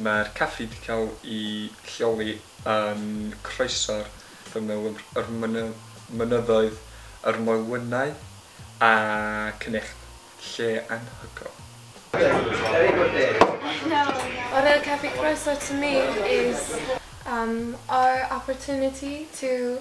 Mae'r caffi wedi cael ei lleoli yn croeso'r ffermydd, yr mynyddoedd, yr moelwynau a cnicht. Lle anhygoel. What a caffi croeso to me is our opportunity to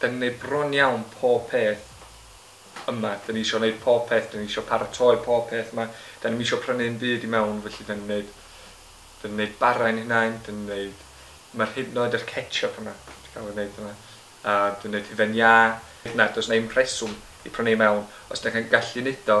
Dan ni'n neud bron iawn pob peth yma. Dan ni isio neud pob peth, dan ni isio paratoi pob peth yma. Dan ni'm isio prynu un byd i mewn, felly dan ni'n neud, dan ni'n neud bara i'n hunain, dan ni'n neud, ma'r hyd yn oed yr ketchup yma, di cael ei neud yma. A dan ni'n neud hufen iâ. Na, does na i'm rheswm i prynu i mewn os dach chi'n gallu neud o,